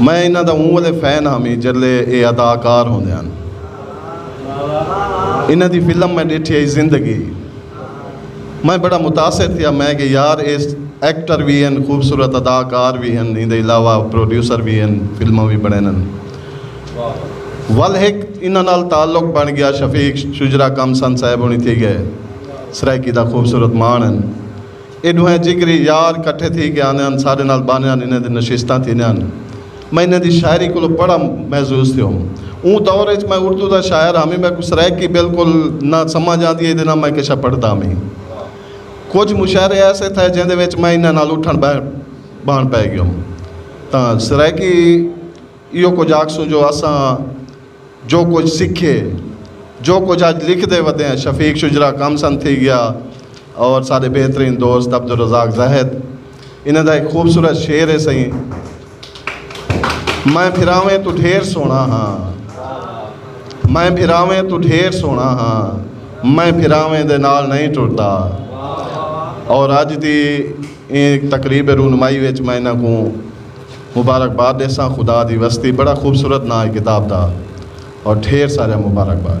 میں انہاں دا اوں والے فین ہاں میں جلے اے اداکار ہوندے ہن انہاں دی فلم میں ڈیٹھی آئی زندگی میں بڑا متاثر تھیا میں کہ یار اے ایکٹر بھی ہیں خوبصورت اداکار بھی ہیں ان دے علاوہ پروڈیوسر بھی ہیں فلماں بھی بنے نن ول ہک انہاں نال تعلق بن گیا شفیق شجرا کم سن صاحب ہونی تھی گئے سرائیکی دا خوبصورت مان ہیں اے ݙوہیں جگری یار کٹھے تھی کے آندے ہن ساݙے نال بانیاں انہیں دی نشستاں تھیندیاں ہن۔ میں انہیں دی شاعری کولو بڑا محظوظ تھیو ہم۔ اوں دور اچ میں اردو دا شاعر ہامی میکوں سرائیکی بالکل نہ سمجھ آندی ہئی تے نہ میں کشا پڑھدا ہامی۔ کجھ مشاعرے ایسے تھئے جیندے وچ میں انہیں نال اٹھݨ ٻہݨ بھݨ پئے ڳیوم۔ تاں سرائیکی ایہو کجھ آکھسوں جو اساں۔ جو کجھ سکھے جو کجھ اج لکھ دے ودے ہیں شفیق شجرا کم سن تھی گیا اور سارے بہترین دوست عبدالرزاق زاہد انہیں دا ایک خوبصورت شعر ہے سہی میں پھراویں تو ڈھیر سونا ہاں میں پھراویں تو ڈھیر سونا ہاں میں پھراویں دے نال نہیں ٹرتا اور اج دی تقریب رونمائی وچ میں انہاں کو مبارکباد ڈیساں خدا دی وستی بڑا خوبصورت ناں ہے کتاب دا اور ڈھیر ساریا مبارکباد۔